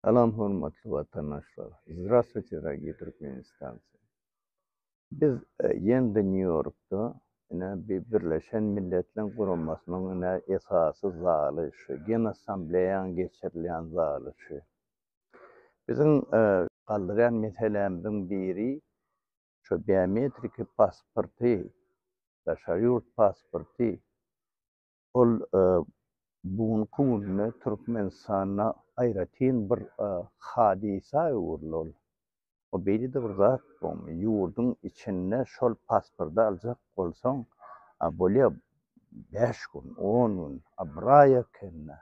Salam hormatly watandaşlar! Zdravstvuyte dorogiý türkmenistancy! Biz ýende Nýu Ýorkda ine bir Birleşen Milletleň Guramasynyň ine esasy zaly şu genassambleýaň geçirilýän zaly şu. Biziň galdyrýan meselämiziň biri şu biometriki pasporty, daşary ýurt pasporty Ol bu günki günde Türkmenistanda aýratyn bir hadysa öwrüldi ol. O beýle-de bir zat bolmaýar. Ýurduň içinde şol pasporty aljak bolsaň, a bolýar bäş gün, on gün, a bir aý ekeni,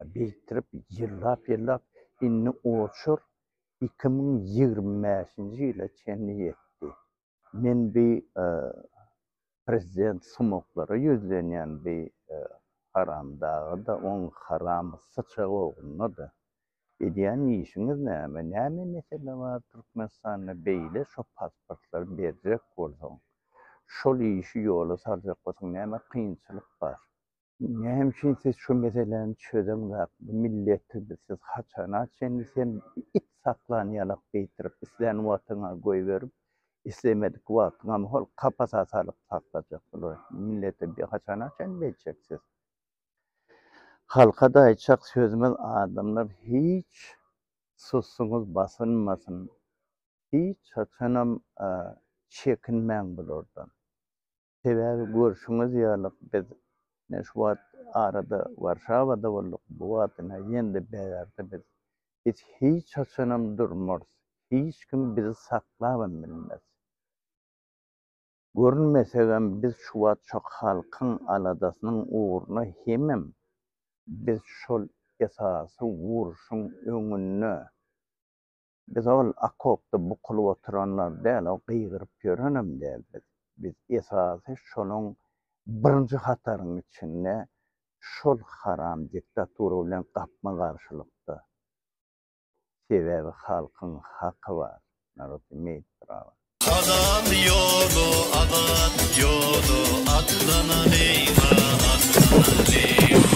a birikdirip ýyllap-ýyllap indi oçur iki müň ýigrimi bäşinji ýyla çenli ýetdi. Men bi prezident sumaklara ýüzlenýän bi haramdagada oň haram syçak oglunada edýän işiňiz näme näme mesele bar türkmenistanda beýle şo pasportlary berjek bolsaň şol işi ýola saljak bolsaň näme kynçylyk bar Näme üçin siz şu meseläni çözeňzok? Bu milleti siz haçana çenli sen it saklan ýalak geýtirip, islän wagtyňa goýberip, islemedik wagtyňam hol kapasa salyp saklajak bular. Milleti bi haçana çenli beýtjek siz? Halka-da aýtjak sözümiz adamlar hiç susuňyz basylmasyn. Hiç haçanam çekinmäň bulardan. Sebäbi görşüňiz ýaly, biz ine şu wagt arada Warşawada bolduk, bu wagt ine ýene-de BAR-da biz. Biz hiç haçanam durmarys, hiç kim bizi saklabam bilmez. Görünmesegem, biz şu wagt şo halkyň aladasynyň ugruna hemem biz şol esasy urşuň öňünde Biz ol okopda bukulyp oturanlar däl, o gygyryp ýörenem däl biz. Biz esasy şonuň birinji hataryň içinde şol haram diktatura bilen gapma-garşylykda. Sebäbi halkyň haky bar, narod imeýt prawa. Azat ýoly, azat ýoly, atlana beýga, atlana beýga.